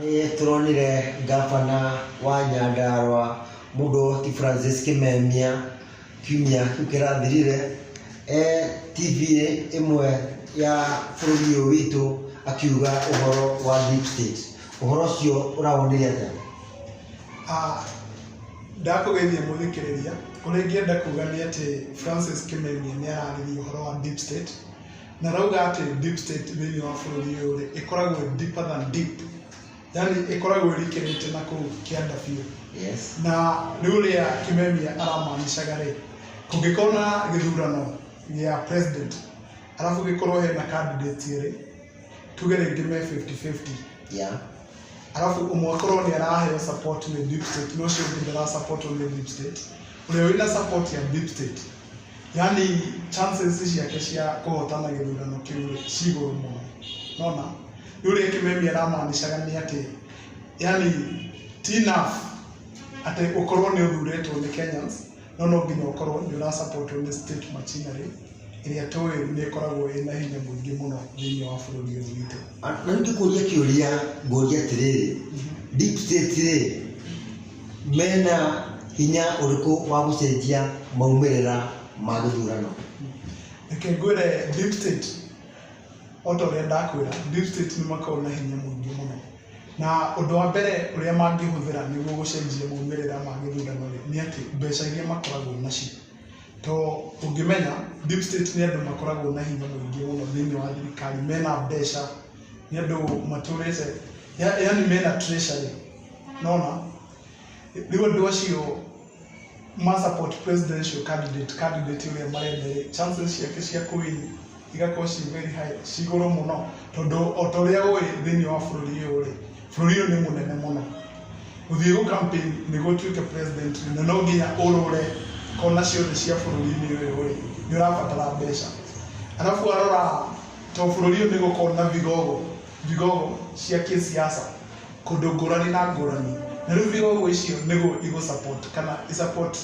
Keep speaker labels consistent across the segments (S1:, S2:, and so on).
S1: Nĩtũronire ngabana wa Nyandarũa Mũdhoti Francis Kĩmemia kiumia kĩu kĩrathirire e TV ĩmwe ya bũrũri ũyũ witũ akiuga ũhoro wa deep state. Ũhoro ũcio ũrawonire atĩa? Ah,
S2: ndakũgeithia mũthikĩrĩria, ũrĩa ingĩenda kuga nĩ atĩ Francis Kĩmemia nĩ ararĩrĩria ũhoro wa deep state, Na arauga atĩ deep state thĩinĩ wa bũrũri ũyũ rĩ, ĩkoragwo ĩ deeper than deep. Yaani ĩkoragwo ĩrikĩrĩte na kũu kĩanda biũ. Yes. Na
S1: nĩ
S2: ũrĩa Kimemia aramaanishaga rĩ, kũngĩkorwo na gĩthurano gĩa president, arabu gĩkorwo hena candidates erĩ, tuge rĩngĩ me 50-50, Yeah.
S1: arabu
S2: ũmwe akorwo nĩ araheo support nĩ deep state na ũcio ũngĩ ndara support nĩ deep state, ũrĩa wĩna support ya deep state Yaani chances ciake cia kũhotana gĩthurano kĩu rĩ, ci igũrũ mũno. Nĩ wona? Rĩu rĩ Kĩmemi aramaanishaga nĩ atĩ, yaani ti enough atĩ ũkorwo nĩ ũthurĩtwo nĩ Kenyans, no no nginya ũkorwo nĩ ũra support wo nĩ state machinery, ĩrĩa tũĩ nĩ ĩkoragwo ĩna hinya mũingĩ mũno thĩiniĩ wa bũrũri ũyũ witũ. Na rĩu ngĩkũria
S1: kĩũria ngũrie atĩrĩrĩ, deep state rĩ, mena hinya ũrĩkũ wa gũcenjia maumĩrĩra ma gĩthurano? Reke
S2: ngwĩre deep state, o ta ũrĩa ndakwĩra, deep state nĩ makoragwo na hinya mũingĩ mũno. Na ũndũ wa mbere ũrĩa mangĩhũthĩra nĩguo gũcenjia maumĩrĩra ma gĩthurano rĩ, nĩ atĩ mbeca iria makoragwo nacio. To ũngĩmenya deep state nĩ andũ makoragwo na hinya mũingĩ mũno thĩiniĩ wa thirikari, mena mbeca. nĩ andũ matũrĩte ya- yaani mena treasury nona rĩu andũ acio ma support presidential candidate candidate ũrĩa marenda rĩ chances ciake cia kũwin igakorwo ci very high ci igũrũ mũno tondũ o ta ũrĩa ũĩ thĩinĩ wa bũrũri ũyũ rĩ bũrũri ũyũ nĩ mũnene mũno gũthiĩ gũ campaign nĩguo ũtuĩke president rĩ, na no nginya ũrũre kona ciothe cia bũrũri-inĩ ũyũ rĩ nĩ ũrabatara mbeca arabu warora To bũrũri ũyũ nĩ gũkorwo na vigogo, vigogo cia kĩsiasa kũndũ ngũrani na ngũrani, na rĩu vigogo icio nĩguo igũ support kana i support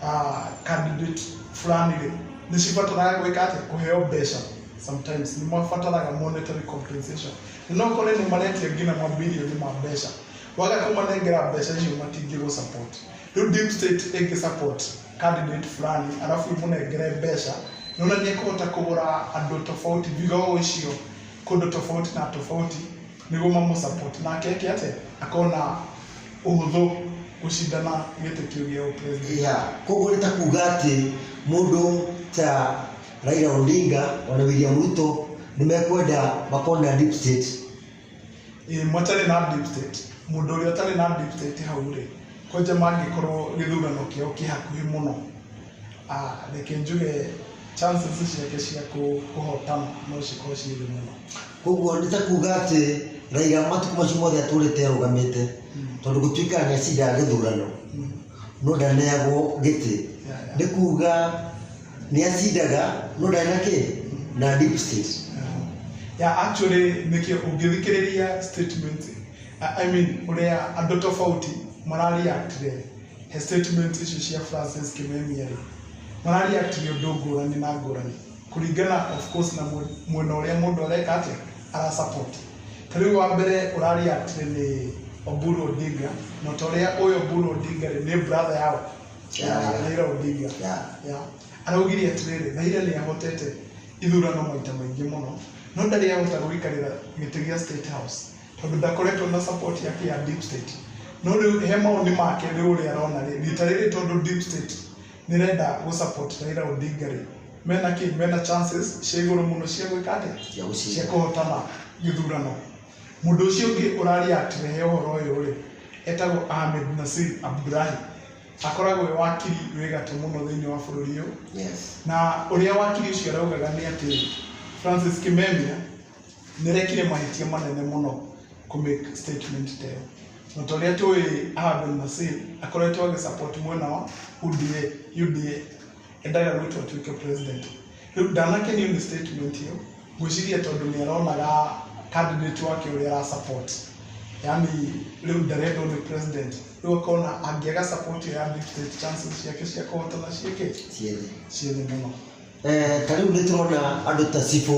S2: ah, candidate fulani rĩ nĩ cibataraga gwĩka atĩa kũheo mbeca sometimes nĩ mabataraga monetary compensation na no kore nĩ maretia nginya mabilioni ma mbeca waga kũmanengera mbeca icio matingĩgũ support rĩu deep state ĩngĩ support candidate fulani alafu imũnengere mbeca nĩ ũrĩa nĩ ekũhota kũgũra andũ tofauti vigogo icio kũndũ tofauti na tofauti nĩguo mamũ support nake eke atĩ akona ũhũthũ gũcindana gĩtĩ kĩu gĩa ũpresident ya koguo nĩ ta
S1: kuga atĩ mũndũ ta Raila Odinga ona William Ruto nĩ mekwenda makona deep state Ĩĩ
S2: matarĩ na deep state, mũndũ ũrĩa ũtarĩ na deep state hau rĩ, kwanja mangĩkorwo gĩthurano kĩao kĩ hakuhĩ mũno, reke njuge chances ciake cia kũhotana no cikorwo ciĩ thĩ mũno. Koguo nĩ ta kuuga
S1: atĩ Raila matukũ macio mothe atũrĩte arũgamĩte, tondũ gũtuĩkaga nĩ acindaga gĩthurano, no ndaneagwo gĩtĩ, nĩ kuuga... nĩ acindaga no ndarĩ na kĩ na deep state ya
S2: actually nĩkĩ ũngĩthikĩrĩria statement I- I mean ũrĩa andũ tofauti marareactire he statement icio cia Francis Kimemia rĩ marareactire ũndũ ngũrani na ngũrani kũringana of course na mwe- mwena ũrĩa mũndũ areka atĩa ara support ta rĩu wa mbere ũrareactire nĩ Oburu Odinga na ta ũrĩa ũyũ Oburu Odinga rĩ nĩ brother yao Yeah. Raila Odinga Yeah. Yeah. araugire atĩrĩrĩ Raila nĩ ahotete ithurano maita maingĩ mũno no ndarĩ ahota gũikarĩra gĩtĩ gĩa state house tondũ ndakoretwo na support yake ya deep state no rĩu he maoni make rĩu ũrĩa arona rĩ rita rĩrĩ tondũ deep state nĩ renda gũ support Raila Odinga rĩ mena kĩ mena chances cia igũrũ mũno cia gwĩka atĩ Cia gũcinda. cia kũhotana gĩthurano Mũndũ ũcio ũngĩ ũraria akĩrehe ũhoro ũyũ rĩ, etagwo Ahmed Nasir Abdulahi. Akoragwo e wakiri wĩ gatũ mũno thĩinĩ wa bũrũri ũyũ. Yes. Na ũrĩa wakiri ũcio araugaga nĩ atĩ Francis Kimemia nĩ arekire mahĩtia manene mũno kũ make statement ta ĩyo. Na ta ũrĩa tũĩ Ahmed Nasir akoretwo agĩ support mwena wa UDA, UDA. endaga gwĩtwo atuĩke president. Rĩu ndanakĩnio nĩ statement ĩyo, ngwĩciria tondũ nĩ aronaga candidate wake ũrĩa ara support, yani rĩu ndarendwo nĩ president, rĩu akona angĩaga support ĩyo ya dictate chances ciake cia kũhotana ciĩ kĩ?
S1: ciethe mũno.
S2: Eh,
S1: ta rĩu
S2: nĩ tũrona
S1: andũ ta
S2: cibũ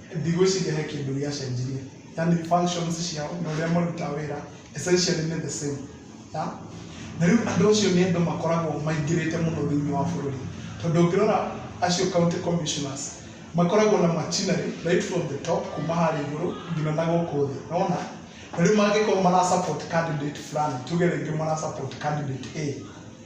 S2: ndigwĩciria he kĩndũ gĩacenjirie yani functions ciao na ũrĩa marutaga wĩra essentially nĩ the same ya na rĩu andũ acio nĩ andũ makoragwo maingĩrĩte mũno thĩinĩ wa bũrũri tondũ ũngĩrora acio county commissioners makoragwo na machinery right from the top kuma harĩa igũrũ nginya na gũkũ thĩ nona na rĩu mangĩkorwo mara support candidate fulani tuge rĩngĩ mara support candidate A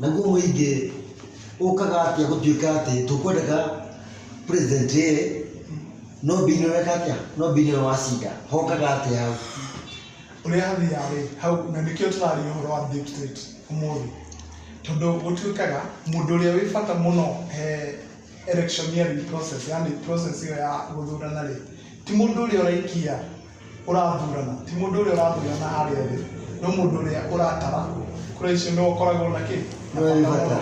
S1: naguo mũingĩ ũkaga atĩa gũtuĩka atĩ tũkwendaga president ĩ no mbini weka atĩa no mbini ũyũ wacinda hokaga atĩa hau ũrĩa
S2: hathiaga rĩ hau na nĩkĩo tũraria ũhoro wa deep state ũmũthĩ tondũ gũtuĩkaga mũndũ ũrĩa wĩ bata mũno he electioneering process yani process ĩyo ya gũthurana rĩ ti mũndũ ũrĩa ũraikia ũrathurana ti mũndũ ũrĩa ũrathurana harĩa thĩ no mũndũ ũrĩa ũratara kura icio nĩ ũkoragwo na kĩ na bata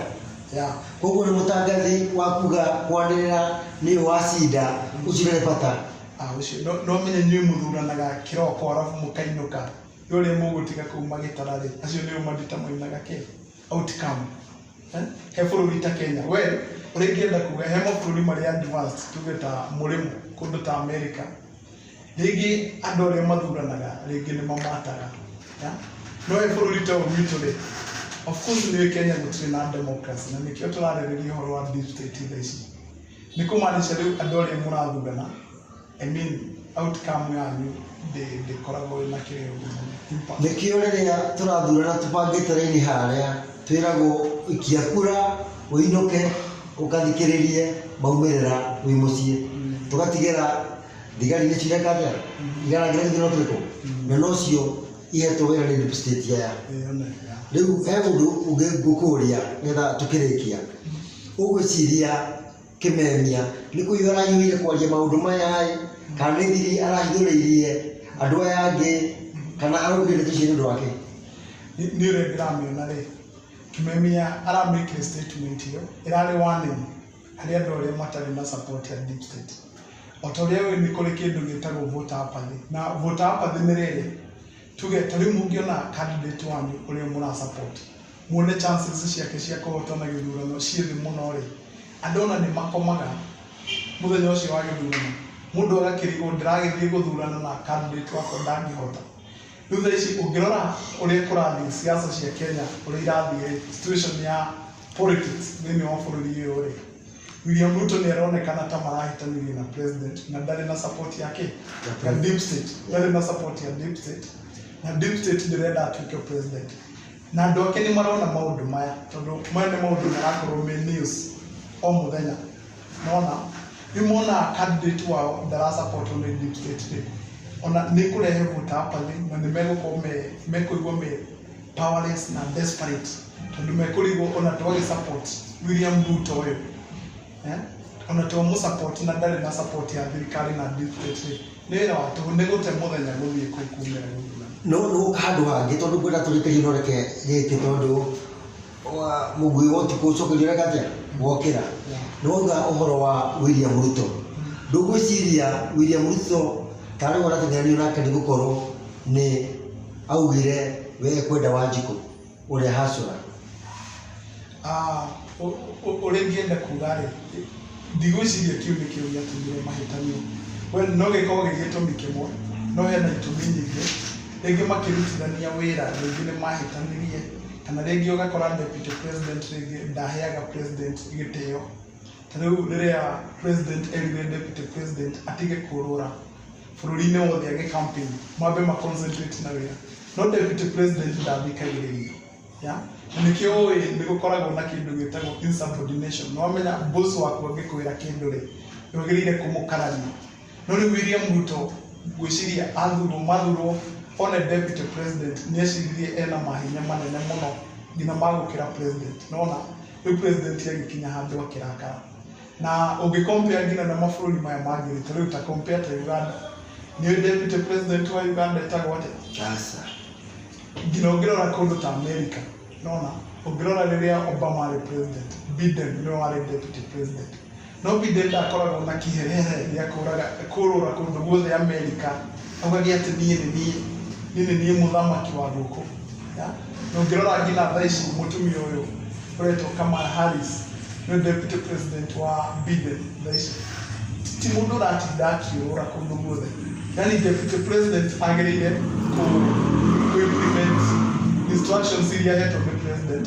S2: ya
S1: koguo nĩ mũtangathi wa kuga kwanĩrĩra nĩ wacinda ũcio nĩ bata Ah, ũcio no no
S2: menye inyuĩ mũthuranaga kĩroko arabu mũkainũka nĩ ũrĩa mũgũtiga kũu magĩtara rĩ acio nĩo mandita mainaga kĩ outcome Eh? he bũrũri ta kenya we ũrĩa ingĩenda kuga he mabũrũri marĩa advanced tuge ta mũrĩmo kũndũ ta america Rĩngĩ andũ arĩa mathuranaga rĩngĩ nĩ mamataga. ya. No ũyũ bũrũri ta ũyũ witũ rĩ, of course nĩ ũĩ Kenya gũtirĩ na democracy na nĩkĩo tũrarĩrĩria ũhoro wa deep state tha ici. Nĩ kũmaanisha rĩu andũ arĩa mũrathurana, I mean outcome yanyu ndĩ- ndĩkoragwo ĩna kĩrĩo mũno. Impact. Nĩkĩo rĩrĩa
S1: tũrathurana tũbangĩte raini harĩa twĩragwo ikia kura ũinũke ũkathikĩrĩrie maumĩrĩra wĩ mũciĩ tũgatigĩra Thigari nĩ cireka atĩa? Igaragĩre githĩ no twĩkwo? Na nocio ihetwo wĩra nĩ deep state aya. Rĩu he ũndũ ũngĩ ngũkũria nĩgetha tũkĩrĩkia. Ũgwĩciria Kĩmemia nĩ kũiyũra araiyũrire kwaria maũndũ maya-ĩ, kana nĩ thiri arahithũrĩirie andũ aya angĩ, kana araugire ndeto ici nĩ ũndũ wake? nĩ nĩ
S2: ũrĩa ndĩramĩona rĩ, Kĩmemia aramĩkire statement ĩyo ĩrarĩ warning harĩ andũ arĩa matarĩ na support ya deep state. O ta ũrĩa ũĩ nĩ kũrĩ kĩndũ gĩtagwo voter apathy. Na voter apathy nĩ rĩrĩ, tuge ta rĩu mũngĩona candidate wanyu ũrĩa mũra support, muone chances ciake cia kũhotana gĩthurano ciĩ thĩ mũno rĩ, andũ ona nĩ makomaga mũthenya ũcio wa gĩthurano, mũndũ agakĩrigwo ndĩragĩthiĩ gũthurana na candidate wakwa ndangĩhota. Rĩu thaa ici ũngĩrora ũrĩa kũrathiĩ siasa cia Kenya ũrĩa irathiĩ rĩ, situation ya politics thĩinĩ wa bũrũri ũyũ rĩ, William Ruto nĩ aronekana ta marahĩtanĩria na president na ndarĩ na support yake ya deep state, ndarĩ na support ya deep state na deep state ndĩrenda atuĩke president. Na andũ ake nĩ marona maũndũ maya, tondũ maya nĩ maũndũ marakorwo me news o mũthenya. Nĩ wona? Rĩu monaga candidate wao ndara support o na indicate rĩ, o na nĩ kũrehe vote hapa thĩ na nĩ megũkorwo me, mekũigua me powerless na desperate tondũ nĩ mekũrigwo o na to gĩ support William Ruto ũyũ, o na to mũ support na ndarĩ na support ya thirikari na dictate rĩ. Nĩ wĩra wa tũhũ nĩ gũte mũthenya gũthiĩ kũu kumĩra gũthura. No no handũ
S1: hangĩ tondũ ngwenda tũrĩkĩrie no reke gĩkĩ tondũ wa- mũguĩ wa ũtukũ ũcokerio ũreka atĩa wokĩra nĩ wauga ũhoro wa William Ruto ndũgwĩciria William Ruto tarĩ we ũratengeranio nake nĩ gũkorwo nĩ augire we ekwenda Wanjikũ ũrĩa hacũra Ah, ũ-
S2: ũ- ũ- ũrĩa ingĩenda kuga rĩ ndigwĩciria kĩu nĩ kĩo gĩatũmire mahĩtania we no gĩkorwo gĩ gĩtũmi kĩmwe no hena itũmi nyingĩ rĩngĩ makĩrutithania wĩra rĩngĩ nĩ mahĩtanirie kana rĩngĩ ũgakora deputy president rĩngĩ ndaheaga president gĩtĩo Tarĩu rĩrĩa president erire deputy president atige kũrũra bũrũri-inĩ wothe agĩ campaign mambe ma concentrate na wĩra no deputy president ndathikagĩrĩria ya na nĩkĩo ũĩ nĩ gũkoragwo na kĩndũ gĩtagwo insubordination nĩ wamenya boss waku angĩkwĩra kĩndũ rĩ nĩ wagĩrĩire kũmũkarania no rĩu William Ruto ngwĩciria athurwo mathurwo one deputy president nĩ eciririe ena mahinya manene mũno nginya magũkĩra president nĩ wona Rĩu president agĩkinya handũ akĩrakara. Na ũngĩ compare nginya na mabũrũri maya mangĩ rĩ, ta rĩu ta compare ta Uganda. Nĩ ũĩ deputy president wa Uganda etagwo atĩa? Aca.
S1: Nginya
S2: ũngĩrora kũndũ ta America, nĩwona, ũngĩrora rĩrĩa Obama arĩ president, Biden nĩwe warĩ deputy president. No Biden ndakoragwo na kĩherehere gĩa kũũrũra kũndũ guothe Amerika augaga atĩ niĩ nĩ niĩ, niĩ nĩ niĩ mũthamaki wa gũkũ. Na ũngĩrora nginya thaa ici mũtumia ũyũ ũretwo Kamala Harris nĩ deputy president wa Biden thaa ici. Ti mũndũ ũratinda akĩũrũra kũndũ guothe. Yani deputy president agĩrĩire kũ implement instructions iria ahetwo nĩ president.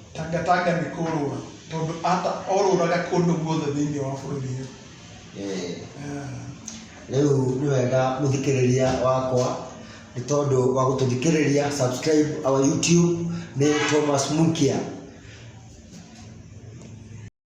S2: Tangatanga nĩ kũrũra tondũ ata orũraga kũndũ guothe thĩinĩ wa bũrũri ũyũ Eh, Eh,
S1: rĩu nĩ wega mũthikĩrĩria wakwa nĩ tondũ wa gũtũthikĩrĩria subscribe our youtube nĩ thomas mukia